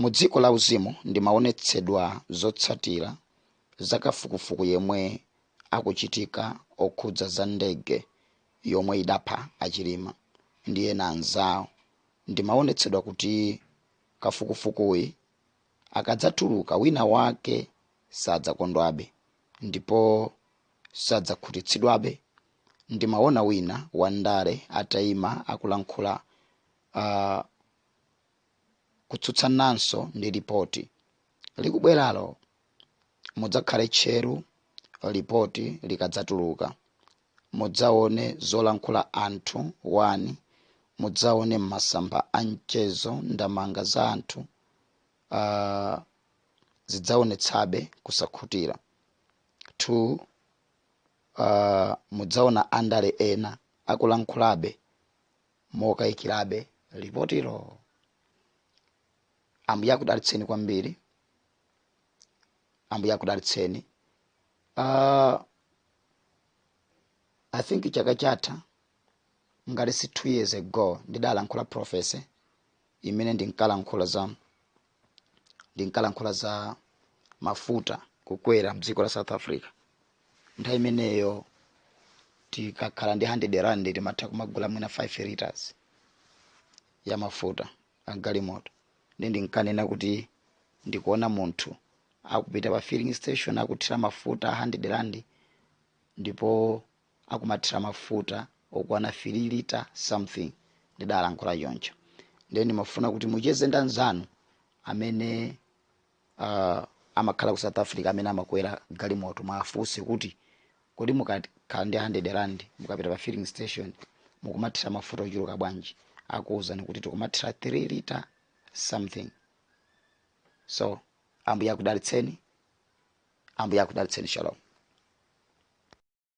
Mu dziko la uzimu ndimaonetsedwa zotsatira za kafukufuku yemwe akuchitika okhudza za ndege yomwe idapha a Chilima ndi ena anzawo. Ndimaonetsedwa kuti kafukufukuyi akadzatuluka wina wake sadzakondwabe ndipo sadzakhutitsidwabe. Ndimawona wina wa ndale ataima akulankhula aah kutsutsananso ndi lipoti likubweralo. Mudzakhale tcheru lipoti likadzatuluka. Mudzaone zolankhula anthu 1 mudzaone mmasamba a mchezo ndamanga za anthu aah zidzaonetsabe kusakhutira 2. uh, mudzaona andale ena akulankhulabe mokayikirabe lipotilo ambuye akudalitseni kwambiri ambuye akudalitseni uh, i think chaka chatha ngati si two years ago ndidalankhula profesi imene ndinkalankhula za ndinkalankhula za mafuta kukwera mdziko la south africa nthawi imeneyo tikakhala ndi 100 rand timatha kumagula mwina 5 liters ya mafuta agalimoto nde ndinkanena kuti ndikuona munthu akupita pa filling station akuthira mafuta a 100 rand ndipo akumathira mafuta okwana 3 lita something ndidalankhula choncho ndiye ndimafuna kuti mucheze ndi anzanu amene uh, amakhala ku south africa amene amakwera galimoto muwafunse kuti kodi mukakhala ndi 100 rand mukapita pa filling station mukumathira mafuta ochuluka bwanji akuwuzani kuti tikumathira 3 lita something so ambuye akudalitseni ambuye akudalitseni shalom